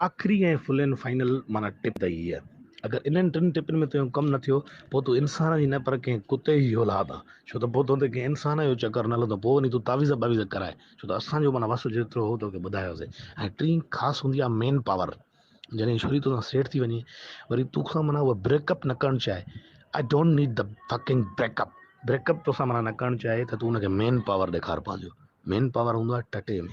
آخري ۽ فلين فائنل معنيٰ ٽپ ته هيء، اگر انهن ٽن ٽپن ۾ تنهنجو ڪم نه ٿيو، پوء تون انسان جي نه پر ڪنهن ڪتي جي اولاد آن، ڇو ته پوء تنهنتي ڪنهن انسان جو چڪر نه هلندو، پوء وڃي تون تعويذ باويذ ڪرائي، ڇو ته اسان جو معنيٰ وس جيترو هو توکي ٻڌايوسين. ۽ ٽين خاص هوندي آهي مين پاور، جڏهن ڇوري توسان سيٽ ٿي وڃي، وري توکان معنيٰ هوء بريڪ اپ نه ڪرڻ چاهي، I don't need the fucking break up, break up توسان معنيٰ نه ڪرڻ چاهي ته تون ان کي مين پاور ڏيکار پنهنجو، مين پاور هوندو آهي ٽٽي ۾.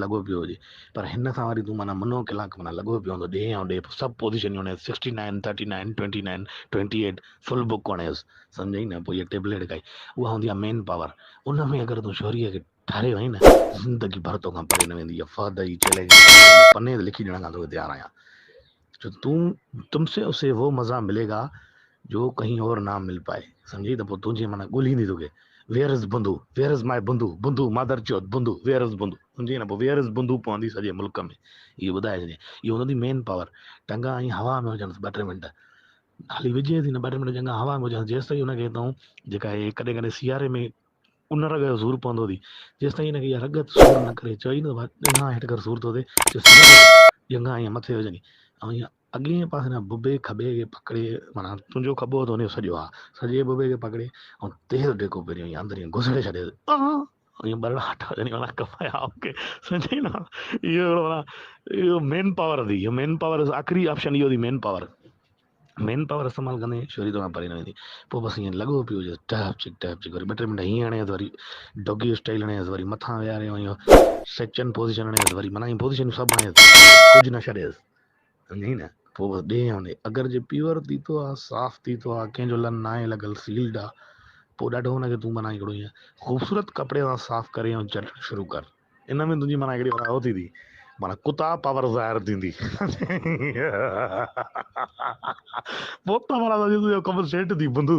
لڳو پيو هجي پر هن سان وري تون معنيٰ منو ڪلاڪ معنيٰ لڳو پيو هوندو ڏيهه ۽ ڏيهه سڀ پوزيشنيون هڻيس sixty nine thirty nine twenty nine twenty eight full book هڻيس سمجهئي نه پوء هيء ٽيبليٽ کائي اها هوندي آهي مين پاور ان ۾ اگر تون شهريء کي ٺاريو آهين نه زندگي ڀر توکان پري نه ويندي اها فهد جي چئلينج تي پني تي لکي ڏيڻ کان توکي تيار آهيان جو تون تم سي اسي وو مزا ملي گا جو ڪهين اور نا مل پائي سمجهي ته پوء تنهنجي معنيٰ ڳولهي ايندي توکي ويئر از بندو ويئر از مائي بندو بندو مادر چوٿ بندو ويئر از بندو سمجهي نه پوء ويئر از بندو پوندي سڄي ملڪ ۾ اهو ٻڌائي ڇڏي اهو هوندي مين پاور ٽنگا ائين هوا ۾ هجڻ ٻه ٽي منٽ هالي وجهي ٿي نه ٻه ٽي منٽ چنگا هوا ۾ هجڻ جيسي هن کي تون جيڪا هي ڪڏهن ڪڏهن سياري ۾ ان رڳ جو سور پوندو ٿي جيستائين هن کي اها رڳ سور نه ڪري چوي نه ته ڄنگهه هيٺ ڪر سور ٿو ٿئي ڄنگهه ائين مٿي هجن ۽ ائين اڳئين جي پاسي کان ڀڀي کٻي کي پڪڙي معنيٰ تنهنجو کٻو اٿو ان جو سڄو آ سڄي ڀڀي کي پڪڙي ۽ تيز ڊيڪو پهريون ائين اندر ائين گسڙي ڇڏيس ائين ٻرڙا هاٽا هجن معنيٰ ڪپائي آء کي سمجهي نه اهو معنيٰ اهو مين پاور ٿي مين پاور آخري آپشن اهو ٿي مين پاور مين پاور استعمال ڪندي شھري توکان پري نه ويندي پوء بس ائين لڳو پيو جس ڊهپ چڪ ڊهپ چڪ وري ٻه ٽي منٽ ھيئن ھڻيس وري ڊوگي اسٽائيل ھڻيس وري مٿان ويھاري ائين سچن پوزيشن ھڻيس وري معنيٰ ائين پوزيشنون سڀ ھڻيس ڪجھ نه ڇڏيس سمجھين نه پوء بس ڏي ھڻي اگر جي پيور تيتو آ صاف تيتو آ ڪنھن جو لن ناھي لڳل سيلڊ آ پوء ڏاڍو ھن کي تون بنائي ھڪڙو ائين خوبصورت ڪپڙي سان صاف ڪري ۽ چٽڻ شروع ڪر ان ۾ تنهنجي معنيٰ هڪڙي وراهو ٿيندي معنيٰ ڪتا پاور ظاهر ٿيندي پوپٽا معنيٰ تنهنجو ڪم سيٽ ٿي بنڌو